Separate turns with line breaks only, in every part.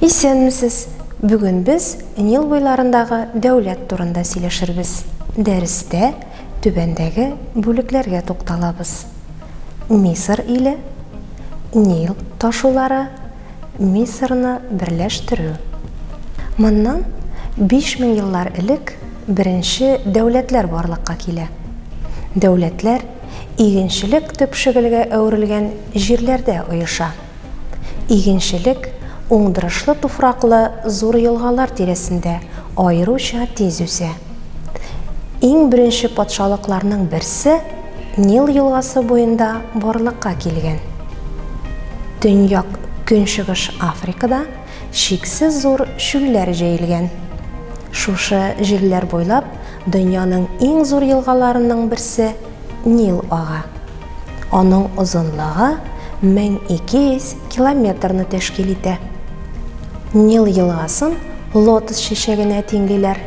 Исәнмесез! Бүген без Нил буйларындагы дәүләт турында сөйләшербез. Дәрестә түбәндәге бүлекләргә тукталабыз. Мисыр иле, Нил ташулары, Мисырны берләштерү. Моннан 5000 еллар элек беренче дәүләтләр барлыкка килә. Дәүләтләр игенчелек төпшегелгә әверелгән җирләрдә оеша. Игенчелек уңдырышлы туфраклы зур елгалар тирәсендә аеруча тиз үсә. Иң беренче патшалыкларның берсе Нил елгасы буенда барлыкка килгән. Төньяк-көнчыгыш Африкада Чиксез зур чүлләр җәелгән. Шушы җирләр буйлап дөньяның иң зур елгаларының берсе Нил ага. Аның озынлыгы 1200 километрны тәшкил итә. Нил елгасын лотос чәчәгенә тиңлиләр.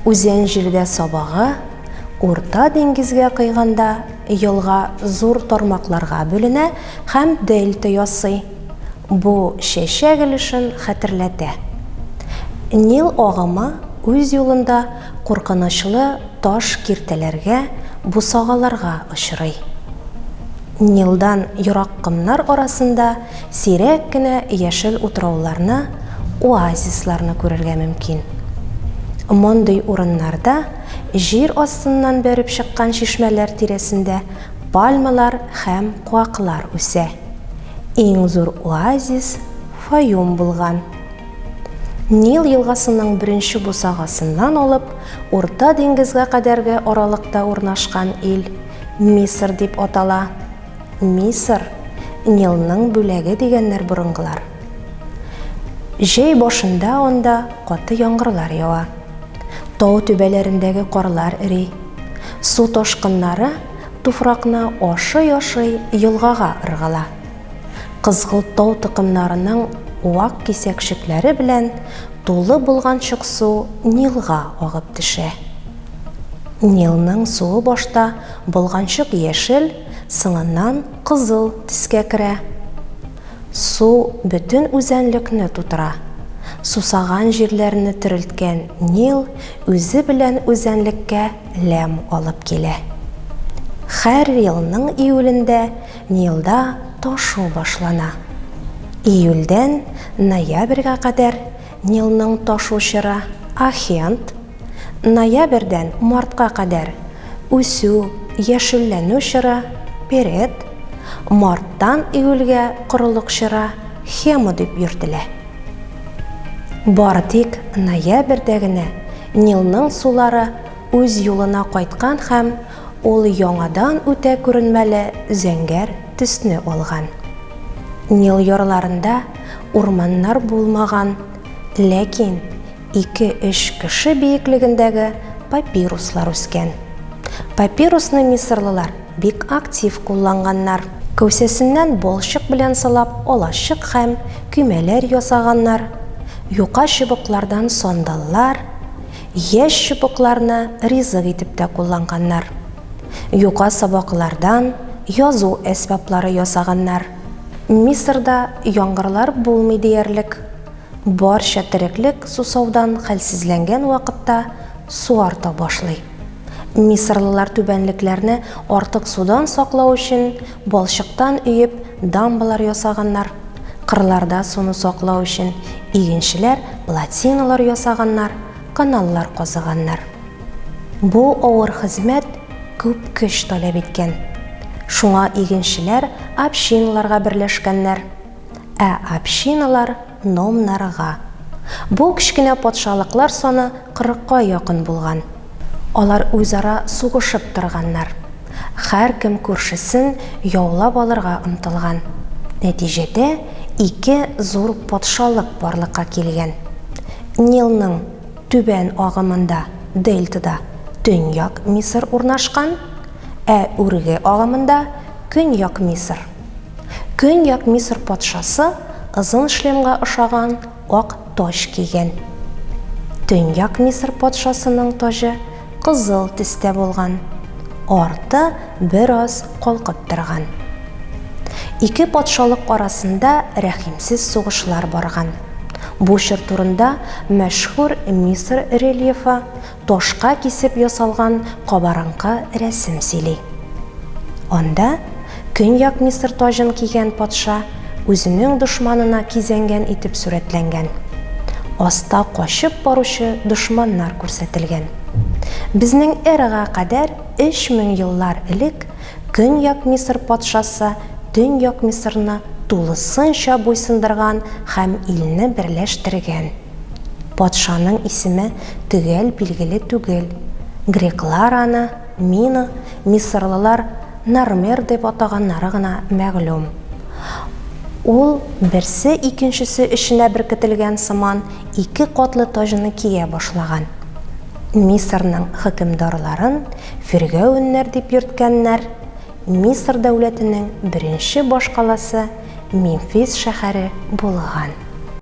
Үзән җирдә сабагы, Урта диңгезгә койганда елга зур тармакларга бүленә һәм дельта ясый. Бу чәчәк өлешен хәтерләтә. Нил агымы үз юлында куркынычлы таш киртәләргә, бусагаларга очрый. Нилдан ерак комнар арасында сирәк кенә яшел утрауларны, оазисларны күрергә мөмкин. Мондый урыннарда җир астыннан бәреп чыккан чишмәләр тирәсендә пальмалар һәм куаклар үсә. Иң зур оазис Фаюм булган. Нил елгасының беренче бусагасыннан алып Урта диңгезгә кадәрге аралыкта урнашкан ил Мисыр дип атала. Мисыр, Нилның бүләге дигәннәр борынгылар. Җәй башында анда каты яңгырлар ява. Тау түбәләрендәге карлар эри. Су ташкыннары Туфракны ашый-ашый елгага ыргыла. Кызгылт тау токымнарының вак кисәкчекләре белән тулы булган чык су Нилга агып төшә. Нилның суы башта болганчык яшел, соңыннан кызыл төскә керә. Су бөтен үзәнлекне тутыра. Сусаган җирләрне терелткән Нил үзе белән үзәнлеккә ләм алып килә. Хәр елның июлендә Нилда ташу башлана. Июльдән ноябрьгә кадәр Нилның ташу чоры, ахеонт, ноябрьдән мартка кадәр үсү, яшелләнү чоры, перет, марттан июльгә корылык чоры, хемо дип йөртелә. Бары тик ноябрьдә генә Нилның сулары үз юлына кайткан һәм ул яңадан үтә күренмәле зәңгәр төсне алган. Нил ярларында урманнар булмаган, ләкин ике-өч кеше биеклегендәге папируслар үскән. Папирусны мисырлылар Бик актив кулланганнар. Кәүсәсеннән балчык белән сылап алачык һәм көймәләр ясаганнар, юка чыбыклардан сандаллар, яшь чыбыкларны ризык итеп тә кулланганнар. Юка сабаклардан язу әсбаплары ясаганнар. Мисырда яңгырлар булмый диярлек. Барча тереклек сусаудан хәлсезләнгән вакытта су арта башлый. Мисырлылар түбәнлекләрне артык судан саклау өчен балчыктан өеп дамбалар ясаганнар. Кырларда суны саклау өчен игенчеләр плотиналар ясаганнар, каналлар казыганнар. Бу авыр хезмәт күп көч таләп иткән. Шуңа игенчеләр общиналарга берләшкәннәр. Ә общиналар Номнарга. Бу кечкенә патшалыклар саны кырыкка якын булган. Алар үзара сугышып торганнар. Һәркем күршесен яулап алырга омтылган. Нәтиҗәдә ике зур патшалык барлыкка килгән. Нилның түбән агымында, дельтада, Төньяк Мисыр урнашкан, ә үрге агымында, Көньяк Мисыр. Көньяк Мисыр патшасы озын шлемга ошаган ак таҗ кигән. Төньяк Мисыр патшасының таҗы кызыл төстә булган, арты бераз калкып торган. Ике патшалык арасында рәхимсез сугышлар барган. Бу чор турында мәшһүр Мисыр рельефы Ташка кисеп ясалган кабарынкы рәсем сөйли. Анда Көньяк Мисыр таҗын кигән патша үзенең дошманына кизәнгән итеп сурәтләнгән. Аста качып баручы дошманнар күрсәтелгән. Безнең эрага кадәр 3000 еллар элек Көньяк Мисыр патшасы Төньяк Мисырны тулысынча буйсындырган һәм илне берләштергән. Патшаның исеме төгәл билгеле түгел. Греклар аны Мино, мисырлылар Нармер дип атаганнары гына мәгълүм. Ул, берсе икенчесе эченә беркетелгән сыман, ике катлы таҗны кия башлаган. Мисырның хөкемдарларын фиргәвеннәр дип йөрткәннәр, Мисыр дәүләтенең беренче башкаласы Мемфис шәһәре булган.